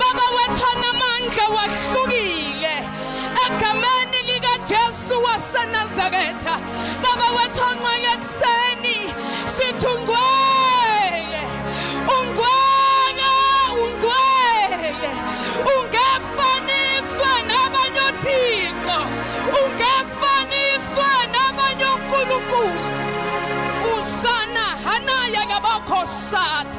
Baba wethu anamandla wahlukile egameni likaJesu waseNazaretha. Baba wethu onqwele ekuseni sithi ungwele, ungwele, ungwele, ungefaniswe nabanye othixo, ungefaniswe nabanye onkulunkulu. Usana hanaya kabakho sathi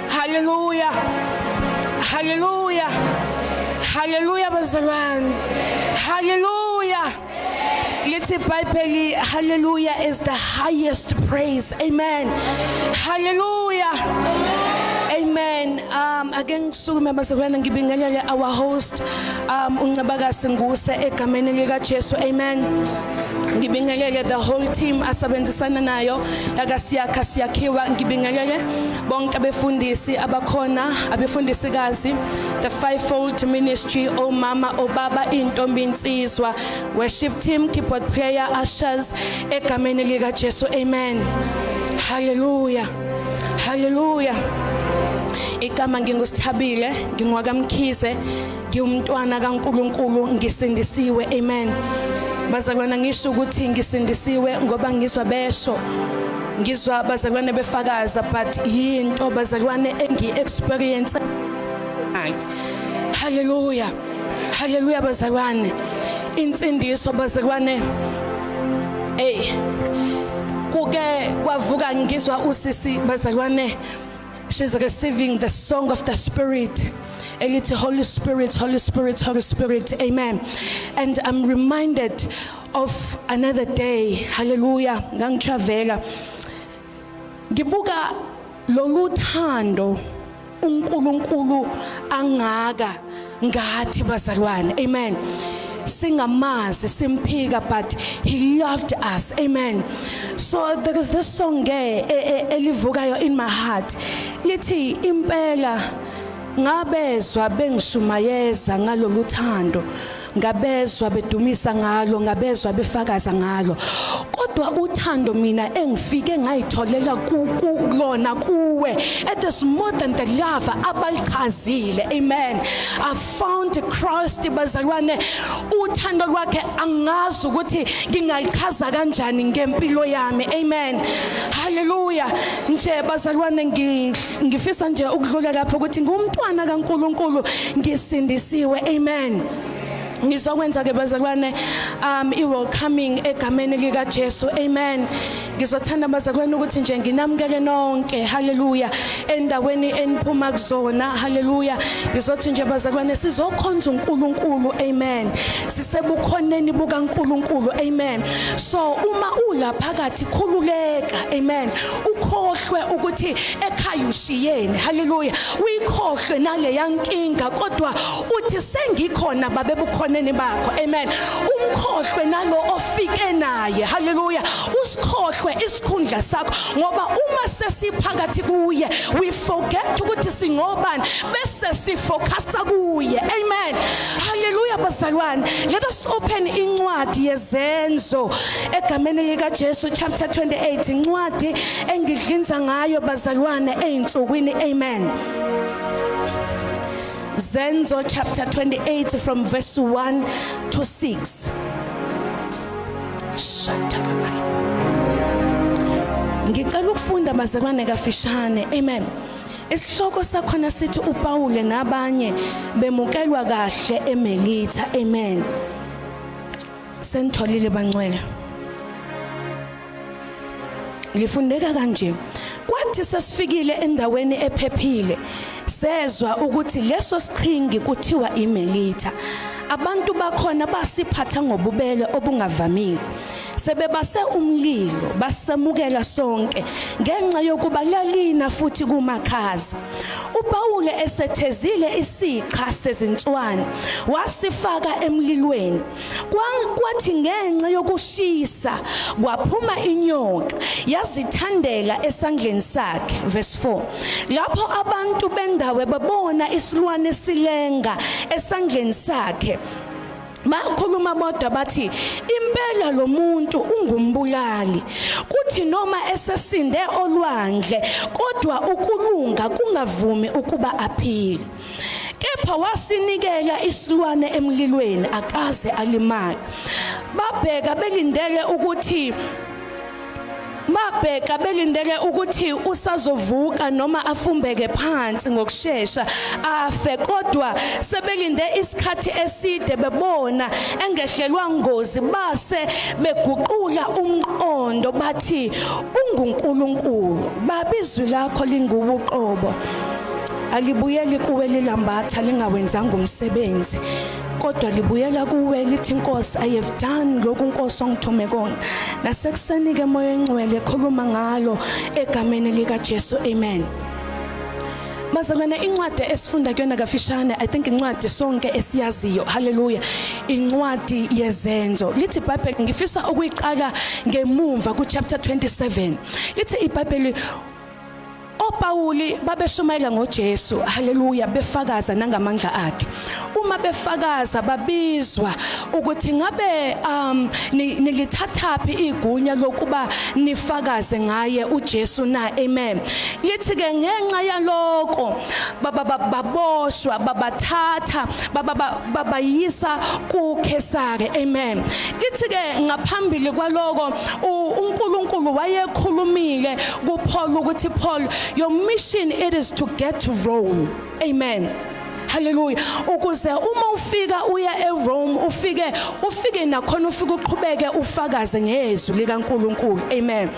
Haleluya. Haleluya. Haleluya bazalwane. Haleluya. Lithi iBhayibheli haleluya is the highest praise. Amen. Haleluya. Amen. Um ake ngisukume bazalwane ngibingelele our host um uNcebakasi Nguse egameni lika Jesu. Amen. ngibingelele the whole team asebenzisana nayo yakasiyakha siyakhiwa ngibingelele bonke abefundisi abakhona abefundisikazi the fivefold ministry omama obaba intombi insizwa worship team keyboard player ushers egameni lika Jesu amen hallelujah hallelujah igama ngingusithabile ngingwakamkhize ngiwumntwana kaNkuluNkulu ngisindisiwe amen bazalwana ngisho ukuthi ngisindisiwe ngoba ngizwa besho ngizwa bazalwane befakaza but yinto bazalwane engi experience haleluya haleluya bazalwane insindiso bazalwane hey kuke kwavuka ngizwa usisi bazalwane She's receiving the song of the Spirit. Elite Holy Spirit, Holy Spirit, Holy Spirit. Amen. And I'm reminded of another day. Hallelujah. Ngangitravela. Ngibuka lolu thando uNkulunkulu angaka ngathi bazalwane amen singamazi simphika but he loved us amen so there is this song ke e, e, elivukayo in my heart lithi impela ngabezwa bengishumayeza ngalolu thando ngabezwa bedumisa ngalo ngabezwa befakaza ngalo kodwa uthando mina engifike ngayitholela kulona kuwe it is more than the love abalichazile ukhululekile amen i found christ bazalwane uthando lwakhe angazi ukuthi ngingalichaza kanjani ngempilo yami amen haleluya nje bazalwane ngifisa nje ukudlula lapho ukuthi ngumntwana kaNkuluNkulu ngisindisiwe amen ngizokwenza ke bazalwane um i welcoming egameni lika Jesu amen Ngizothanda bazakwenu ukuthi nje nginamukele nonke haleluya endaweni eniphuma kuzona haleluya ngizothi nje bazakwene sizokhonza uNkulunkulu amen sisebukhoneni bukaNkulunkulu amen so uma ula phakathi khululeka amen ukhohlwe ukuthi ekhaya ushiyeni haleluya uyikhohlwe nale yankinga kodwa uthi sengikhona babebukhoneni bakho amen umkhohlwe nalo ufike naye haleluya usikhohlwe isikhundla sakho ngoba uma sesiphakathi kuye we forget ukuthi singobani bese sifocusa kuye amen haleluya bazalwane let us open incwadi yezenzo egameni lika Jesu chapter 28 incwadi engidlinza ngayo bazalwane ezinsukwini amen Zenzo chapter 28 from verse 1 to 6. Ngicela ukufunda mazekwane kafishane. Amen. Isihloko sakhona sithi uPawule nabanye bemukelwa kahle eMelitha. Amen. Sentholile bangcwele. lifundeka kanje kwathi sesifikile endaweni ephephile sezwa ukuthi leso siqhingi kuthiwa imelitha abantu bakhona basiphatha ngobubele obungavamile sebebase umlilo basemukela sonke ngenxa yokuba lalina futhi kumakhaza uPawule esethezile isixa sezinswane wasifaka emlilweni kwathi ngenxa yokushisa kwaphuma inyoka yazithandela esandleni sakhe verse 4 lapho abantu bendawo babona isilwane silenga esandleni sakhe bakhuluma bodwa bathi impela lo muntu ungumbulali kuthi noma esesinde olwandle kodwa ukulunga kungavumi ukuba aphile kepha wasinikela isilwane emlilweni akaze alimali babheka belindele ukuthi babheka belindele ukuthi usazovuka noma afumbeke phansi ngokusheshsha afe kodwa sebelinde isikhathi eside bebona engehlelwa ngozi base beguqula umqondo bathi unguNkulunkulu babizwi lakho lingubuqobo alibuyeli kuwe lilambatha lingawenzanga umsebenzi kodwa libuyela kuwe lithi inkosi i have done lokhu inkosi ongithume kona nasekuseni ke moya engcwele khuluma ngalo egameni lika Jesu amen bazalwane incwadi esifunda kuyona kafishane i think incwadi sonke esiyaziyo haleluya incwadi yezenzo lithi ibhayibheli ngifisa ukuyiqala ngemumva ku chapter 27 lithi ibhayibheli OPawuli babeshumayela ngoJesu, haleluya, befakaza nangamandla akhe. Uma befakaza babizwa ukuthi ngabe um nilithathaphi igunya lokuba nifakaze ngaye uJesu na? Amen. Lithi ke ngenxa yaloko baba baboshwa babathatha baba babayisa kuKhesare. Amen. Lithi ke ngaphambili kwaloko uNkulunkulu wayekhulumile kuPaul ukuthi Paul your mission it is to get to Rome amen haleluya ukuze uma ufika uya eRome ufike ufike nakhona ufike uqhubeke ufakaze ngezwi likaNkuluNkulu amen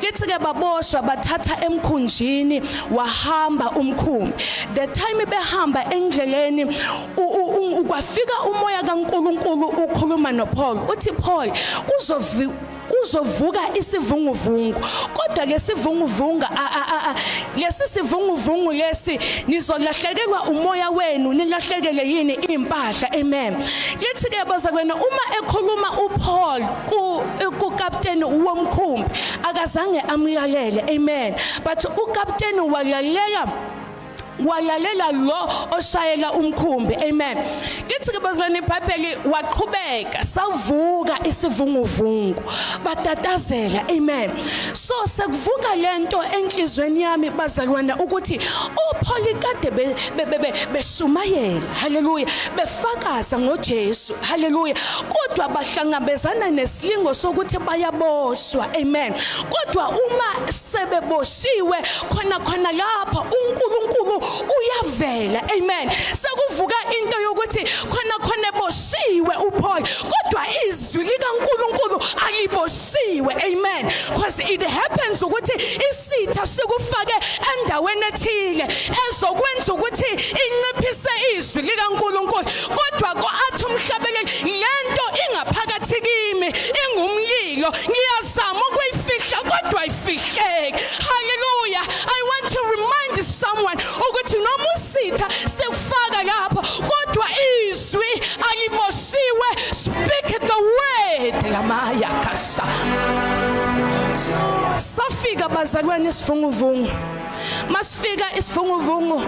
lithi ke baboshwa bathatha emkhunjini wahamba umkhumbi the time behamba endleleni ukwafika umoya kaNkuluNkulu ukhuluma noPaul uthi Paul kuzovi kuzovuka isivunguvungu kodwa lesivunguvunga lesi sivunguvungu lesi nizolahlekelwa umoya wenu nilahlekele yini impahla amen lithi ke bazakwena uma ekhuluma uPaul ku ukapteni womkhumbi akazange amlalele amen but ukapteni walalela walalela lo oshayela umkhumbi amen kithi ke bazalwane ibhayibheli waqhubeka savuka isivunguvungu batatazela amen so sekuvuka lento enhlizweni yami bazalwana ukuthi upholi kade beshumayela haleluya befakaza ngoJesu haleluya kodwa bahlangabezana nesilingo sokuthi bayaboshwa amen kodwa uma sebeboshiwe khona khona lapha uNkulunkulu uyavela amen sekuvuka into yokuthi khona khona eboshiwe uPaul kodwa izwi likaNkulunkulu aliboshiwe amen because it happens ukuthi isitha sikufake endaweni ethile ezokwenza ukuthi inciphise izwi likaNkulunkulu kodwa kwathi umhlabeleli lento ingaphakathi kimi ingumlilo ngiyazama ukuyifihla kodwa ayifihleki haleluya i want to remind someone ukuthi noma usitha sekufaka lapho kodwa izwi aliboshiwe speak the word lamaya kasa safika bazalwane isivunguvungu masifika isivunguvungu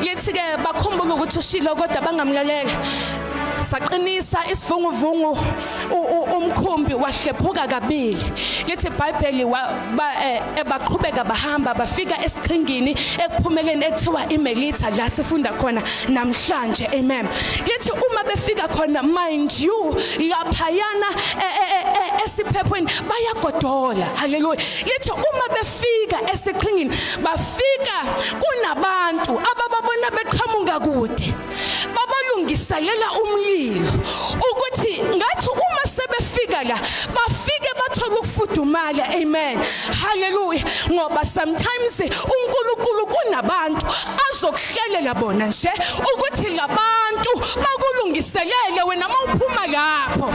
yithi ke bakhumbula ukuthi ushilo kodwa bangamlalele saqinisa isivunguvungu umkhumbi wahlephuka kabili lithi ibhayibheli eh, ebaqhubeka bahamba bafika esiqhingini ekuphumeleni ekuthiwa imelitha la sifunda khona namhlanje amen lithi uma befika khona mind you laphayana e, e, e, esiphephweni bayagodola haleluya lithi uma bafika esiqhingini bafika kunabantu abababona beqhamuka kude babalungiselela umlilo ukuthi ngathi uma sebefika la bafike bathola ukufudumala amen haleluya ngoba sometimes uNkulunkulu kunabantu azokuhlelela bona nje ukuthi labantu bakulungiselele wena mawuphuma lapho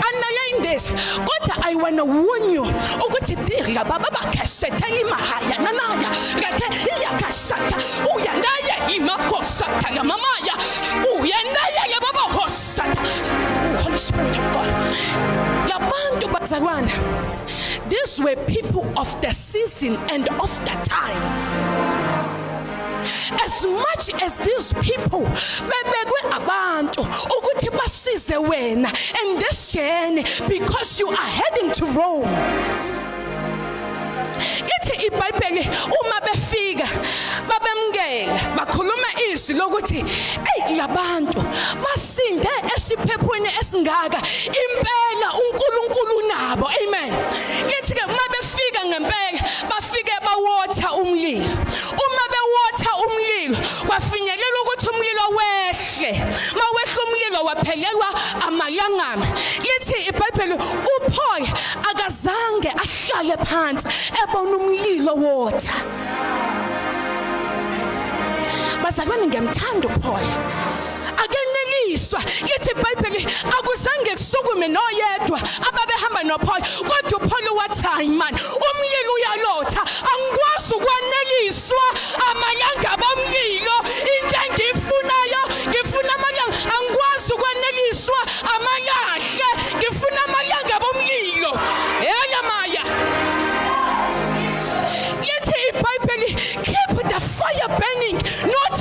analyze this kodwa i wanna warn you ukuthi dirla baba bakashethela imahaya nanaya ngakhe iyakashata uya naye imakosata ngamamaya uya naye ke baba hosata oh, holy spirit of god labantu bazalwana these were people of the season and of the time as much as these people bebekwe abantu ukuthi basize wena in this journey because you are heading to Rome ithi iBhayibheli uma befika babemngela bakhuluma izwi lokuthi hey labantu bas sinde esiphephweni esingaka impela uNkulunkulu unabo amen yithi ke uma befika ngempela bafike bawotha umlilo uma bewotha umlilo kwafinyelela ukuthi umlilo wehle mawehla umlilo waphelelwa amalangana yithi iBhayibheli uPaul akazange ahlale phansi ebona umlilo wotha bazalwane ngiyamthanda uPaul akeneliswa lithi ibhayibheli akuzange kusukume noyedwa ababehamba nopholo kodwa upholo wathi hayi mani umyeni uyalotha angikwazi ukwaneliswa amalanga bomlilo into engiyifunayo ngifuna amalanga angikwazi ukwaneliswa amalahle ngifuna amalanga bomlilo yaya maya lithi ibhayibheli keep the fire burning not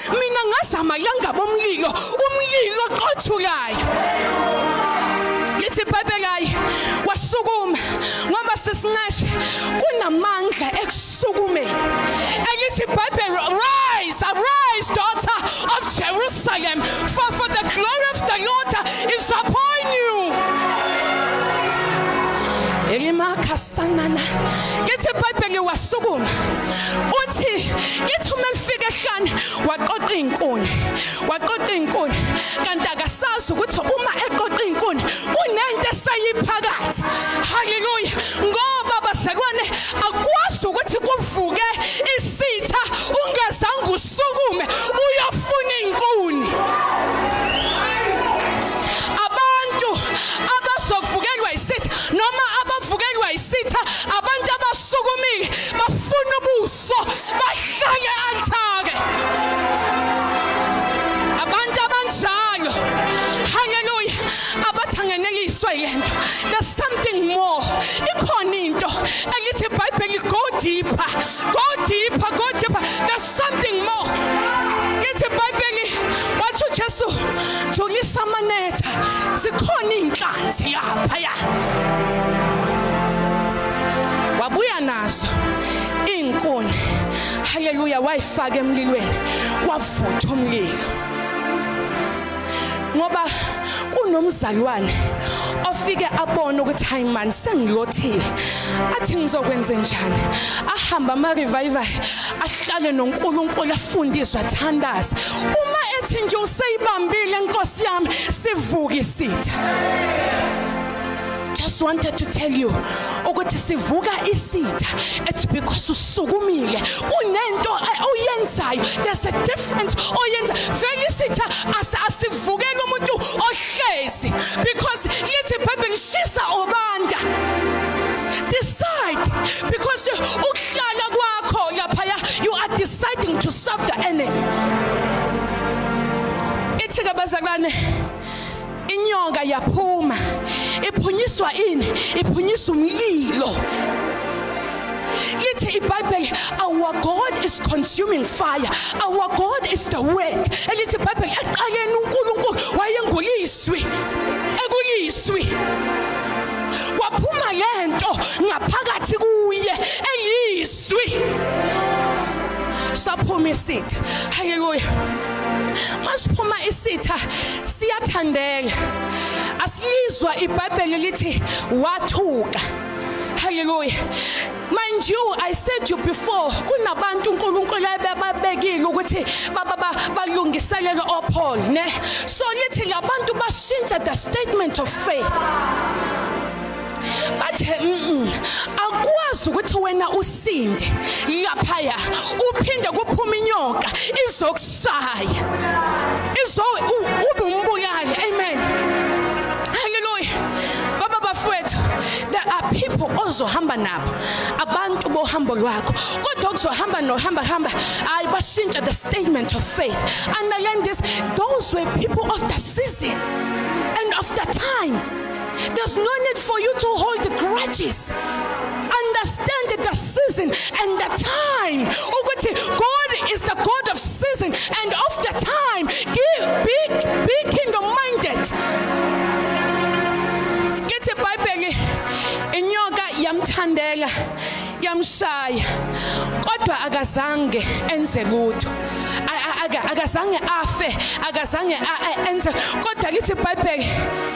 mina ngazama yangabo umlilo umlilo oqothulayo lithi bhebhekayi wasukuma ngoba sesinceshe kunamandla ekusukumeni elithi bhebhel rise arise daughter of jerusalem for, for the glory of the lord is upon you elimakhasanana lithi ibhayibheli wasukuma uthi ithi uma lifika ehlane waqoqa izinkuni waqoqa izinkuni kanti akasazi ukuthi uma eqoqa izinkuni kunento esayiphakathi haleluya ngoba basekwane akwazi ukuthi kuvuke isitha ungazange usukume uyofuna izinkuni abantu abazovukelwa isitha noma abavukelwa isitha Sukumile bafuna ubuso bahlanye althake. Abantu abanjalo. Hallelujah. Abathangeneliswa yento. There's something more. Ikhona into elithi iBhayibheli go deeper. Go deeper, go deeper. There's something more lithi ibhayibheli wathi ujesu jongisa amanetha zikhona iinhlanzi yaphaya wabuya nazo iinkuni haleluya wayifaka emlilweni wavutha umlilo ngoba kunomzalwane ofike abone ukuthi hayi mani sengilothile athi ngizokwenze njani ahamba ama-revival ahlale noNkulunkulu afundiswe athandaze uma ethi nje useyibambile inkosi yami sivuka isitha just wanted to tell you ukuthi sivuka isitha it's because usukumile kunento oyenzayo there's a difference oyenza vele isitha asivukela umuntu ohlezi because lithi baby ngishisa obanda decide because ukuhlala kwakho lapha you are deciding to serve the enemy ithi ke bazalwane inyoka yaphuma iphunyiswa ini iphunyiswa umlilo lithi ibhayibheli our god is consuming fire our god is the word elithi ibhayibheli eqaleni unkulunkulu wayengulizwi ekulizwi kwaphuma le nto ngaphakathi kuye eyizwi saphuma isitha haleluya masiphuma isitha siyathandeka asilizwa ibhayibheli lithi wathuka Hallelujah. Mind you, I said to you before, kunabantu uNkulunkulu ayebabekile ukuthi baba balungiselela oPaul, ne? So lithi labantu bashintsha the statement of faith. bathe mm akwazi ukuthi wena usinde lapha ya uphinde kuphuma inyoka izoku Shaya. Izo ube umbulali. Amen. Hallelujah. Baba bafwethu, there are people ozohamba nabo. Abantu bohambo lwakho. Kodwa kuzohamba nohamba hamba. Ayi bashintsha the statement of faith. Underline this, those were people of the season and of the time. There's no need for you to hold grudges. Understand that the season and the time. Ukuthi God is the God of season and of the time. Give, be, be kingdom minded. Ithi iBhayibheli inyoka yamthandela yamshaya kodwa akazange enze lutho akazange afe akazange enze kodwa lithi iBhayibheli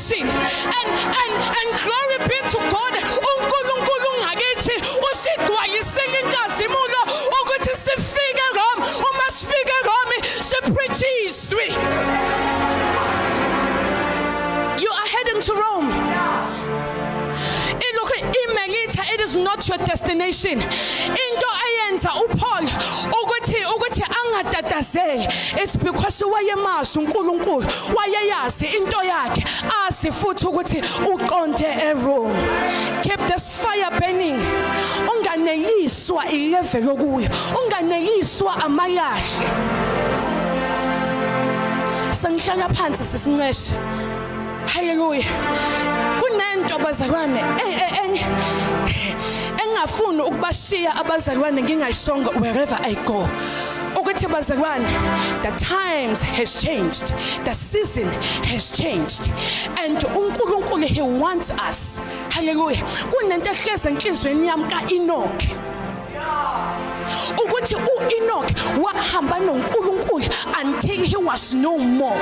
And, and, and glory be to God uNkulunkulu ngakithi usigwayisile inkazimulo ukuthi sifike Rome uma sifike Rome sipreach izwi You are heading to Rome Ilokhu imelitha it is not your destination into eyenza uPaul ukuthi ukuthi angatatazeli It's because wayemazi uNkulunkulu, wayeyazi into yakhe, azi futhi ukuthi uqonde ewrong. Keep this fire burning. Unganeyiswa ilevel okuyo, unganeyiswa amalahle. Sengihlala phansi sisinceshe. Hallelujah. Kunento bazalwane enye engafuni ukubashiya abazalwane ngingayishongo wherever I go. ukuthi bazalwane the times has changed the season has changed and uNkulunkulu he wants us hallelujah kunento ehleze enhlizweni yami ka Enoch ukuthi uEnoch wahamba noNkulunkulu until he was no more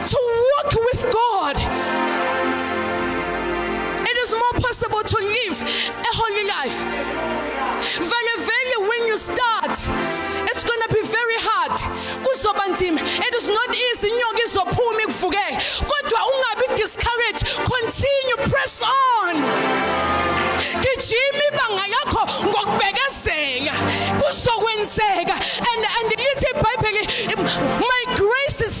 To walk with God. It is more possible to live a holy life. Vele vele when you start it's going to be very hard. Kuzoba nzima. It is not easy inyoka izophuma ikuvukele. Kodwa ungabi discouraged. Continue press on. Gijima ibanga lakho ngokubekezela. Kuzokwenzeka. And and lithi iBhayibheli my grace is